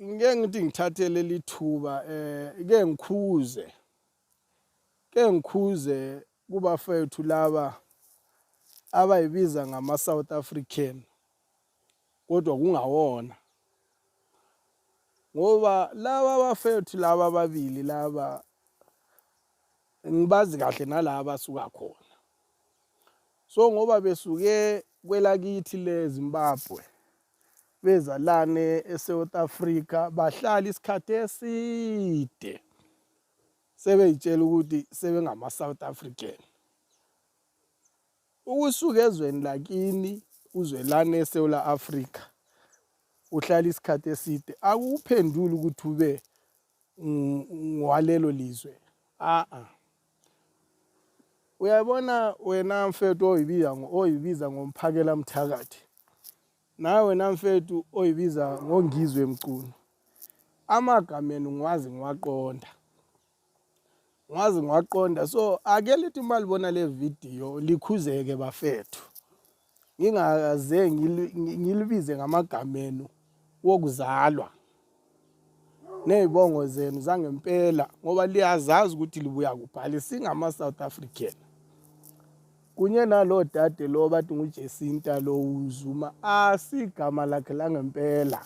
Ngeke ngithi ngithathe leli thuba eh ke ngikhuze ke ngikhuze kubafethu laba abayibiza ngama South African kodwa kungawona ngoba laba bafethu laba ababili laba ngibazi kahle nalaba suka khona so ngoba besuke kwelakithi leZimbabwe bezalane eSouth Africa bahlala isikhathi eside sebeyitshela ukuthi sebengama South African ukusuka ezweni lakini uzwelane eSouth Africa uhlala isikhathi eside akuphenduli ukuthi ube ngwalelo lizwe a a uyabona wena mfethu oyibiza oyibiza ngomphakela mthakathi nawe wena mfethu oyibiza ngongizwe emculo amagama enu ngwazi ngiwaqonda ngwazi ngiwaqonda so ake lithi uma libona le video likhuzeke bafethu ngingaze ngilibize ngamagama enu wokuzalwa nezibongo zenu zangempela ngoba liyazazi ukuthi libuya kubhali singama South African kunye nalo dade lo bathi nguJesinta lo uZuma asigama lakhe langempela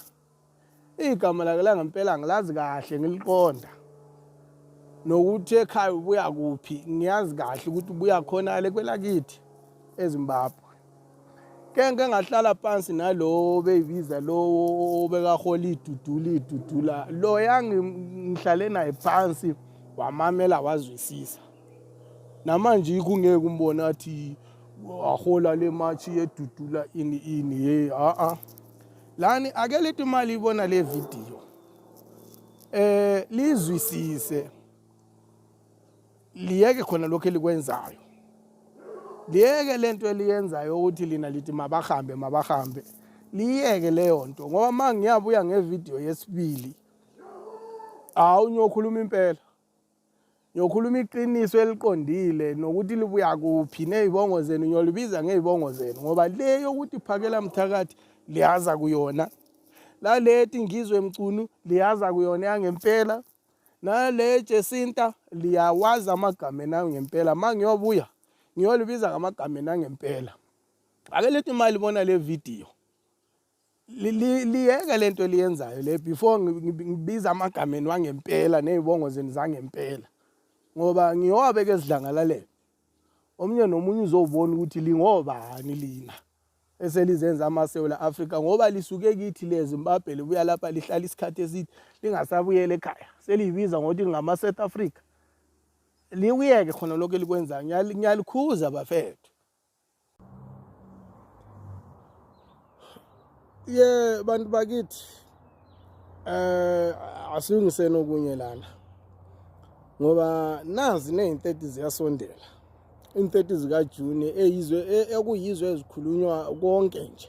igama lake langempela ngilazi kahle ngiliqonda nokuthi ekhaya ubuya kuphi ngiyazi kahle ukuthi ubuya khona le kwelakithi eZimbabwe kenke ngahlala phansi nalowo beyibiza lowo obekahola idudula idudula loya ngihlale naye phansi wamamela wazwisisa namanje yikho ungeke umbone athi wahola le matshi yedudula ini ini yeyi a-a lani ake leti mali ibona le video eh lizwisise liyeke khona lokho elikwenzayo liyeke lento eliyenzayo ukuthi lina lithi mabahambe mabahambe liyeke leyo nto ngoba uma ngiyabuya ngevidiyo yesibili hawu ngiyokhuluma impela ngiyokhuluma iqiniso eliqondile nokuthi libuya kuphi ney'bongo zenu ngiyolibiza ngey'bongo zenu ngoba le yokuthi phakela mthakathi liyaza kuyona laleti ngizwe mcunu liyaza kuyona yangempela nale jesinta liyawazi amagama enayo ngempela ma ngiyobuya ngiyolibiza ngamagama enangempela ake lethi imali bona le vidiyo liyeke le nto eliyenzayo le before ngibiza amagameni wangempela ney'bongo zenu zangempela ngoba ngiyowabeka ezidlangalaleni omunye nomunye uzowubona ukuthi lingobani lina eselizenza amasewula afrika ngoba lisuke kithi lezimbabwe libuya lapha lihlala isikhathi eside lingasabuyela ekhaya seliyibiza ngokuthi lingama-south africa likuyeke khona lokho elikwenzayo ngiyalikhuza bafethu ye bantu bakithi eh asilungiseni okunye lana ngoba nazi nezintethe ziyasondela intethe zika June eyizwe e, ekuyizwe ezikhulunywa konke nje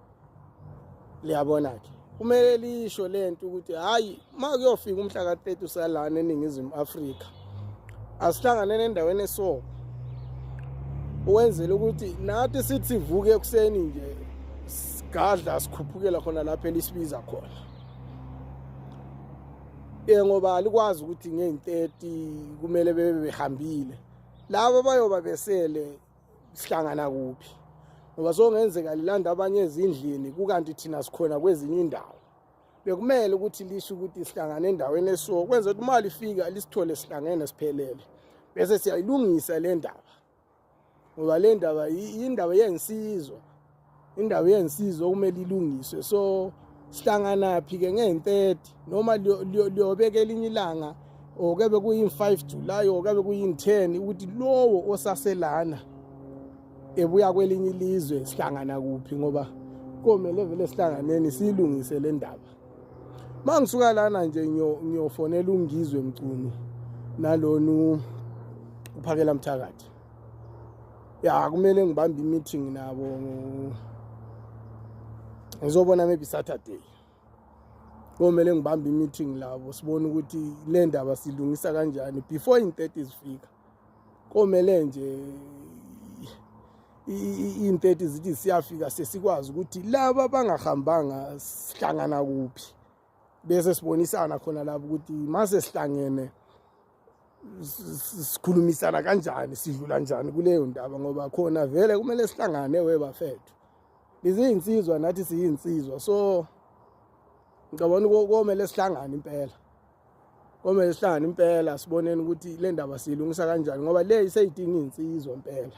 liyabona-ke kumele lisho le nto ukuthi hhayi uma kuyofika umhla ka-30 usalana eningizimu afrika asihlangane nendaweni esoko ukwenzela ukuthi nathi sithi sivuke ekuseni nje sigadla sikhuphukela khona lapho elisibiza khona um ngoba alikwazi ukuthi ngeyi-30 kumele bebe behambile labo bayoba besele sihlangana kuphi ngoba songenzeka lilanda abanye ezindlini kukanti thina sikhona kwezinye indawo bekumele ukuthi lisho ukuthi sihlangane endaweni eso kwenza ukuthi imali ifika lisithole sihlangene siphelele bese siyayilungisa le ndaba ngoba le ndaba yindaba yensizwa indawo yensizwa okumele ilungiswe so sihlanganaphi ke ngeyi-30 noma liyobeka elinye ilanga or kebe kuyi-5 July or kebe kuyi-10 ukuthi lowo osaselana ebuya kwelinye ilizwe sihlangana kuphi ngoba komele vele sihlanganeni siyilungise le ndaba uma ngisuka lana nje ngiyofonela ungizwe mcunu nalona uphakela mthakathi ya kumele ngibambe i-meeting nabo ngizobona maybe saturday komele ngibambe i-meeting labo sibone ukuthi le ndaba silungisa kanjani before in-30 zifika komele nje iy'nteti zithi siyafika sesikwazi ukuthi laba bangahambanga sihlangana kuphi bese sibonisana khona lapho ukuthi mase sihlangene sikhulumisana kanjani sidlula njani kuleyo ndaba ngoba khona vele kumele sihlangane webafethu iziyinsizwa nathi siyinsizwa so ngicabona komele sihlangane impela komele sihlangane impela siboneni ukuthi le ndaba siyilungisa kanjani ngoba le iseyidinga iy'nsizwa impela